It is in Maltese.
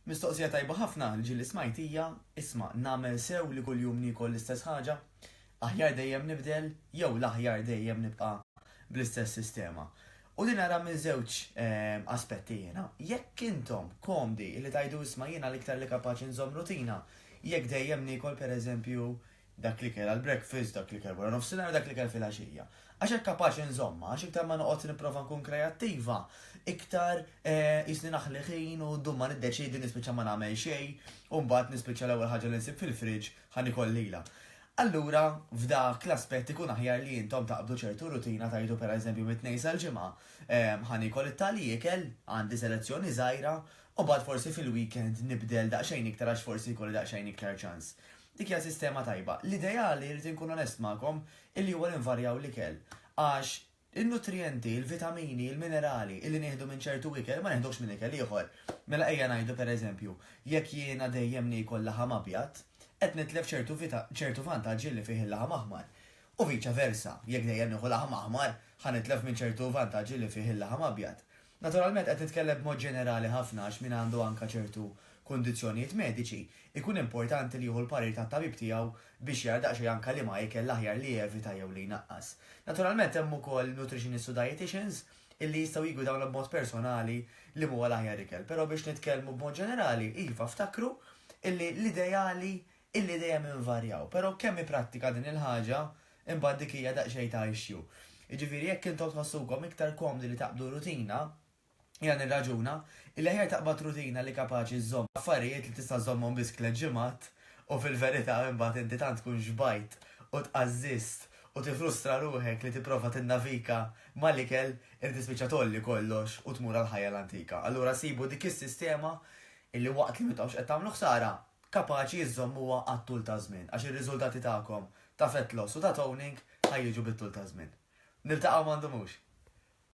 Mistoqsija tajba ħafna l-ġi li smajt hija, isma' nagħmel sew li kuljum niekol l-istess ħaġa? Aħjar dejjem nibdel jew l-aħjar dejjem nibqa' bl-istess sistema? U din ara minn żewġ aspetti jiena. Jekk intom komdi li tgħidu isma' jiena l-iktar li kapaċi nżomm rutina, jekk dejjem niekol pereżempju dak l-ikel għall-breakfast, dak l-ikel wara nofsinhar, dak l-ikel filgħaxija. Għax hekk kapaċi nżommha, għax iktar ma noqgħod nipprova nkun kreattiva, iktar eh, jisni naħli ħin u dum ma niddeċiedi nispiċċa ma nagħmel xejn, u mbagħad nispiċċa l-ewwel ħaġa li nsib fil-friġġ ħa nikol lilha. Allura, f'dak l-aspett ikun aħjar li intom taqbdu ċertu rutina tajdu per eżempju mit-tnejn sal-ġimgħa. Ehm, ħanikol it-tali ikel, għandi selezzjoni żgħira, u bad forsi fil-weekend nibdel daqsxejn iktar għax forsi jkolli daqsxejn iktar ċans. Dik hija sistema tajba. L-ideali, rrid inkun onest magħkom, illi huwa li nvarjaw l-ikel. Għax in-nutrijenti, il-vitamini, il-minerali illi nieħdu minn ċertu ikel ma neħduhx minn ikel ieħor. Mela ejja ngħidu per eżempju, jekk jiena dejjem niekol laħam abjad, qed nitlef ċertu ċertu vantaġġi li fih il-laħam aħmar. U viċa versa, jekk dejjem nieħu laħam aħmar, ħa nitlef minn ċertu vantaġġi li fih il-laħam abjad. Naturalment qed nitkellem b'mod ġenerali ħafna għax min għandu anke ċertu kundizzjonijiet mediċi, ikun importanti li jieħu l-parir tat-tabib tiegħu biex jara daqsxejn anke liema ikel l-aħjar li jevita jew li jnaqqas. Naturalment hemm ukoll nutrixinists u dajetiċins illi jistgħu jiggwidawna b'mod personali liema huwa l-aħjar ikel, però biex nitkellmu b'mod ġenerali, iva ftakru illi l-ideali illi dejjem invarjaw, però kemm hi prattika din il-ħaġa, imbagħad dik hija daqsxejn ta' issue. Jiġifieri jekk intom tħossukom iktar komdi li taqbdu rutina, jiena nirraġuna illi aħjar taqbad rutina li kapaċi żżomm affarijiet li tista' żżommhom biss tliet ġimgħat u fil-verità imbagħad inti tant tkun xbajt u tqażżiżt u tifrustra ruħek li tipprova tinnavika mal-ikel illi tispiċċa tgħolli kollox u tmur għall-ħajja l-antika. Allura sibu dik is-sistema illi waqt li m'intomx qed tagħmlu ħsara, kapaċi iżżommuha għat-tul taż-żmien għax ir-riżultati tagħkom ta' fat loss u ta' toning ħa jiġu bit-tul taż-żmien. Niltaqgħu ma ndumux!